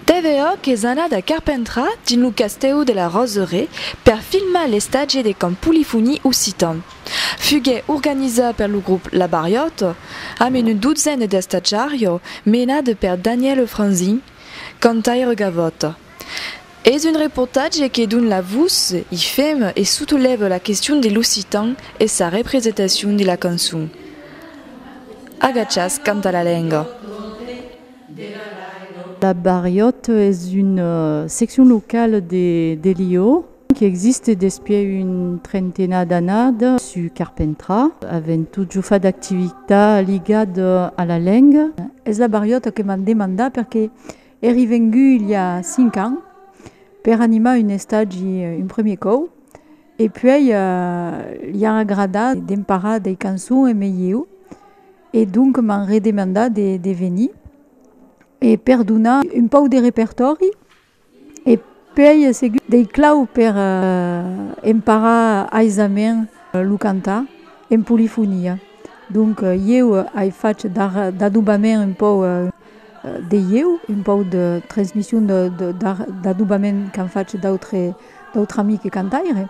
TVOC es anat a Carpentras, dins lo castèu de la Roseraie, per filmar l'estatge de Camp Polifonie Occitan. Fuguèt organizat per lo grop La Barriòta, amb una dotzena d'estatjarios, menat per Danièle Franzin, cantaire gavòt. Es un reportatge que don la vos, i fem, e sotolève la question de l'occitan e sa represetacion de la cançon. Agachas canta la lenga. La Barriòtte es una seccion locale de Lió qui existe despièch un trentena d'annad sus Carpentras, avent totjor fat d'activitat ligada a la lenga. Es la Barriòtte que m'an demandat perque Èri vengut il i a cinc ans per animar un estagi un premier còu e puèi li a agradat d'emparar dei cançons e melhiu e donc m'an redemandat de venir e per donar un pauc de repertòri e Puèi a seguit dei claus per emparar aisament lo cantar en polifonia. Donc ieu ai fach d'adobament un pòu de ieu, un pòu de transmission d'adobament qu'an fach d'autres amics cantaires.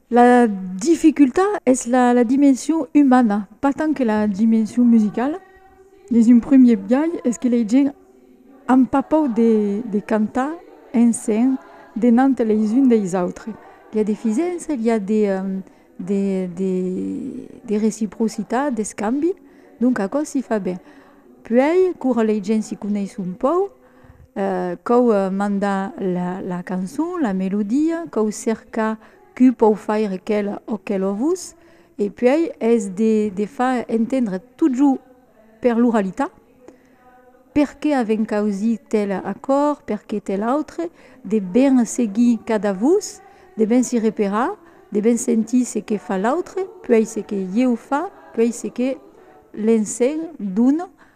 La dificultat es la dimension umana, pas tant que la dimension musicala. Dins un primièr biais es que lei gents an pas paur de cantar en sen denant leis uns deis autres. I a de fisença, i a de reciprocitat, d'escambi, donc aquò s'i fa ben. Puèi, quora lei gents s'i coneis un paur, cau mandar la cançon, la melodia, cau cercar qui pòu faire quel o quel ovus e puèi es de far entendre totjorn per l'oralitat perqué avèm causí tel acòrd, perqué tel autre, de ben seguir cada vos, de ben si reparar, de ben sentir se que fa l'autre, puèi se que ieu fa, puèi se que l'ensenh dona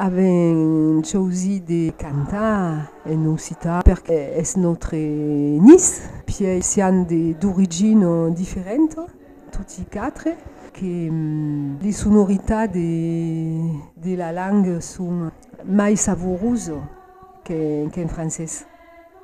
Avèm chausit de cantar en occitan perque es nòstre nis, pièi sián d'origina diferenta toti quatre, que li sonoritats de de la langa son mai savorusa qu'en francés.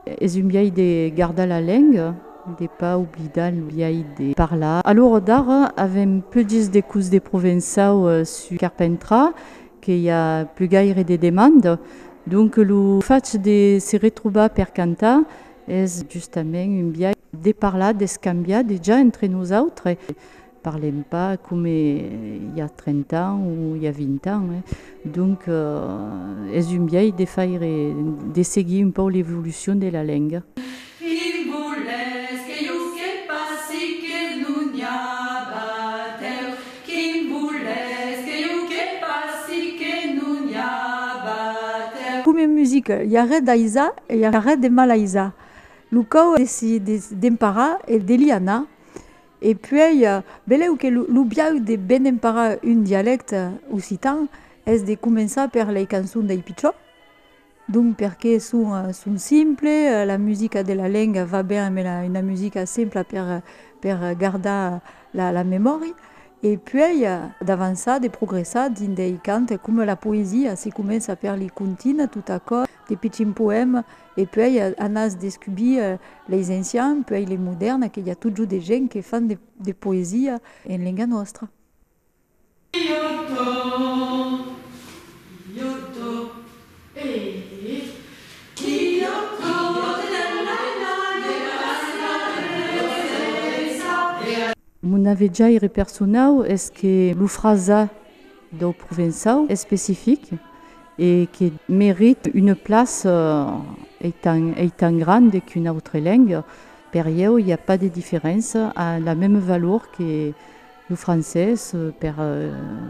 Es un biais de gardar la lenga, de pas oblidar lo biais de parlar. A l'ora d'ara avèm plegís de curs de provençau sus Carpèntra que i a plus gaire de demanda, donc lo fach de se retrobar per cantar es justament un biais de parlar, d'escambiar dejà entre nosautres, Parlem pas coma i a 30 ans o i a 20 ans, donc es un biais de faire, de seguir un pauc l'evolucion de la lenga. Quin voletz que jo fsque passi que non n'i a batèu? Quin voletz que jo fsque passi que non n'i a batèu? Coma en musica, i a res d'aisat e i a res de malaisat. Lo cau es demparar e de l'i anar. E puèi, belèu que lo biais de ben emparar un dialècte occitan es de començar per lei cançons dei pichons, donc perque son simples, la musica de la lenga va ben amb una musica simpla per gardar la memòria, e puèi d'avançar, de progressar dins dei cants coma la poesia, se comença per li contina, tot aquò, de pichins poèmas E puèi anàs descubir leis ancians, puèi lei modèrnas, que i a totjorn de gents que fan de poesia en lenga nòstra. Mon avejaire personau es que lo frasar. dau provençau especific e que merite una plaça ei tan grande qu'una autre lenga, per ieu i a pas de diferença, a la meme valor que lo francés per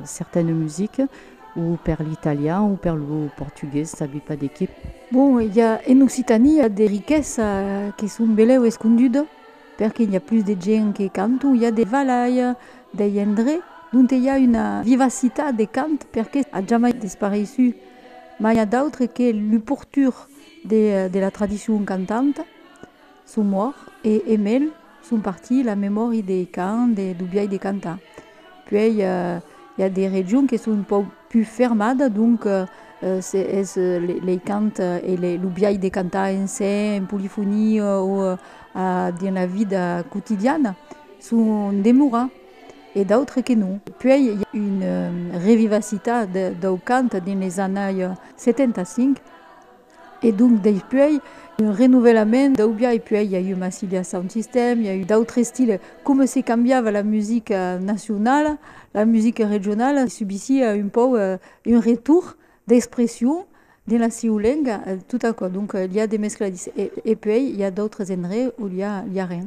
certaine musique o per l'italian o per lo portugués, sabi pas de qué. Bon, i a en Occitània de riquesa que son belèu esconduda. Perqué i a plus de gent que canton, i a de valhaia dei endre donte i a una vivacitat de cant perqué a jamai dispareissu, mai a d'autre que lu portur de de la tradicion cantanta son mort e e mel son parti la memòri dei cant e du biai de cantar. Puei i a de regions que son un pauc Pus fermada, donc, es lei cant e lo biais de cantar en se, en polifonia o dins la vida quotidiana, son demora e d'autres que non. Puèi i a una revivacitat dau cant dins les annailles 75. E donc deipuèi un renovelament d'aubia e puèi i a eu Massilia Sound System, i a eu d'autres estiles, coma se cambiava la musica nacionala, la musica regionala subissiá un pauc un retorn d'expression dins la sieu lenga, tot aquò, donc l'i a de mescladís e puèi i a d'autres endreches ont l'i a rien.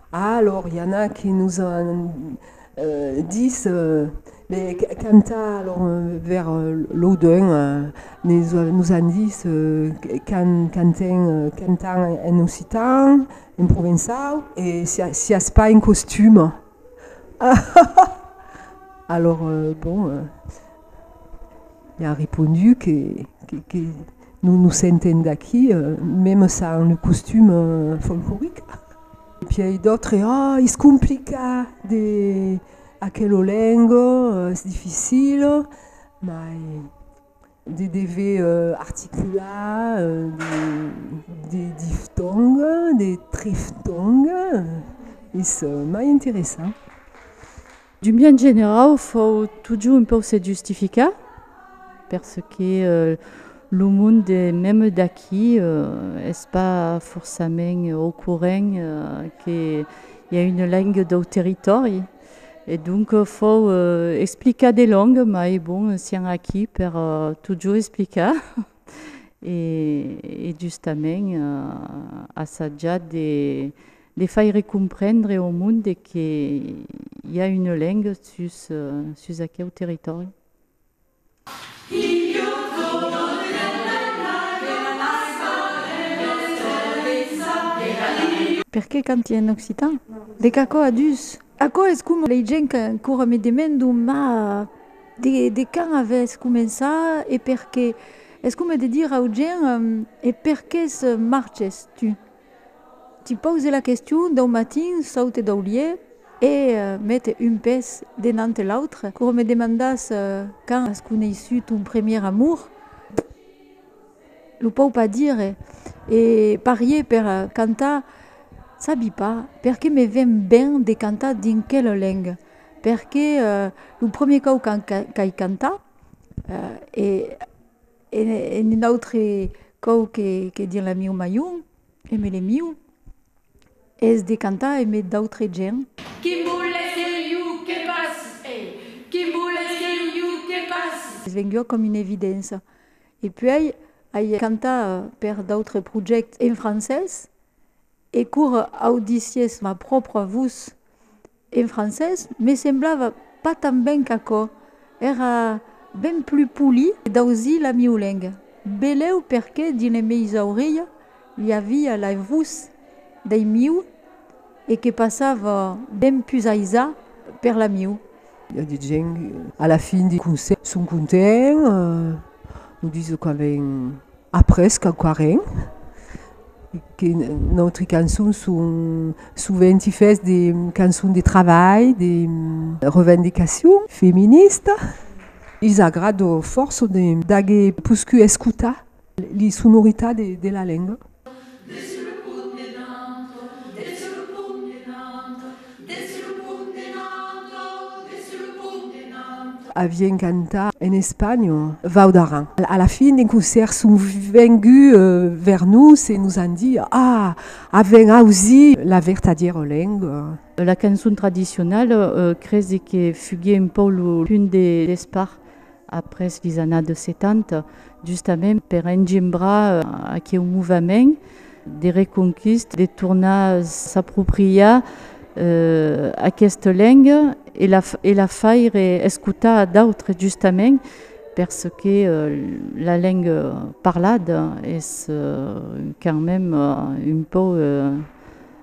Alor i ana que nos an dis de cantar alor ver lo deun nos an dis can canten cantan en occitan en provençau e siás pas en costum alor bon i an repondu que Non nos sentem d'aquí, meme ça un costume folclorique. Et puis ai d'autres, ah, is complica de aquelo lengo, es difficil, mai de dever articular de diftong, de triftong, es mai interessant. D'un biais generau, fau totjorn un pauc se justificar, perque lo mond de meme d'aquí es pas forçament au courent que i a una lenga dau territòri, e donc fau explicar de long, mai bon, sián aquí per totjorn explicar e justament assatjar de De faire comprendre au monde que i a une lengue sus sus aqueu territòri. Per qué canti en occitan? De qu'aquò a dus. Aquò es coma lei gent qu'ancora me demendon ma de de quand avètz començat e per qué? Es coma de dire au gent e per qué marches tu? Te pause la question dau matin saute dau lieu e mete un pes denante l'autre coma me demandas quand as coneissut ton premier amour? Lo pau pas dire e parier per cantar sabi pas perque me ven ben de cantar dins quela lenga perque lo premier cau qu'ai cantat e En un autre còu que dins la miu mayon, e me le miu, es de cantar e me d'autre gent. Qui mou les geniu que pas e. Qui mou les geniu que pas. Es venguda com una evidença. E puèi ai cantat per d'autres projèctes en francés e cour audissies ma pròpria vos, En francés me semblava pas tan ben qu'aquò, èra ben plus poli d'ausir la mieu lenga. Beleu perqué dins le meis aurelhas l'i avia la vos dei mieu e que passava ben plus aisat per la mieu. I a de gents a la fin de concèrt son contents, nos disent qu'avèn. Après quauquarren que nòstre cançon son sovent i fes de cançon de travalh, de revendicacion feminista, i's agrado fòrça d'agé puscu escutar li sonoritat de la lenga. Desse lo pont en alto, desse lo pont en alto. Avien cantat en espanhòl. Vau d'Aran. A la fin d'un concèrt son venguts vers nos e nos an dit, Ah! Avèm ausit la vertadièra lenga. La cançon tradicionala cresi que fuguie un pauc lo punt de despart Après vis anat de 70, justament per engembrar aqueu movement de reconquista, de tornar s'apropriar aquesta lenga e la faire escotar a d'autres, justament perque la lenga parlada es quand même un pauc.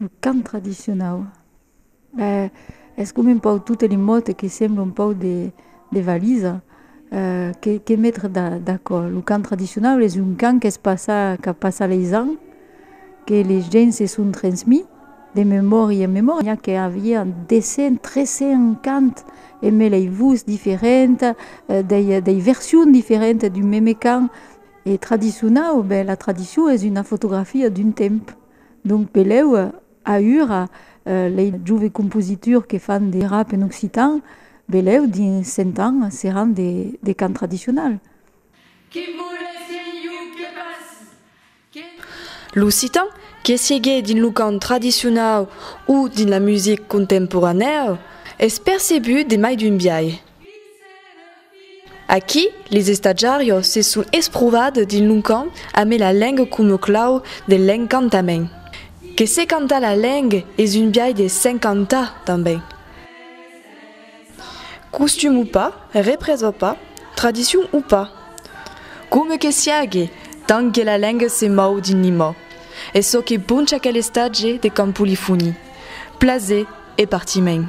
Lo cant tradicionau, ben es coma un pauc totes li mots que semblan un pauc de de valisa, que que metre d'acòrd? Lo cant tradicionau es un cant qu'es passat, qu'a passat leis ans, que les gents se son transmés de memòria en memòria, que avián 200, 300 cants emé lei votz diferentas, dei dei versions diferentas d'un meme cant. E tradicionau, ben la tradicion es una fotografia d'un temp. Donc peleu aüra lei jove compositors que fan de rap en occitan, beleu dins 100 ans seràn de cant tradicional. Que volèssi un iuc que passi, que non. L'occitan, que siegue dins lo cant tradicionau o dins la music contemporanèu, es percebut de mai d'un biais. Vin se ne Aquí, les estatjarios se son esprouvats dins lo cant amé la lengue coma clau de l'encantament. Que se cantar la lengue es un biais de s'encantar tanben. Costum o pas, represa o pas, tradicion o pas, coma que siágue, tant que la lengue se mòu dins Limoh, es çò que poncha aquel estatge de cant polifoní. Plaser. E partiment.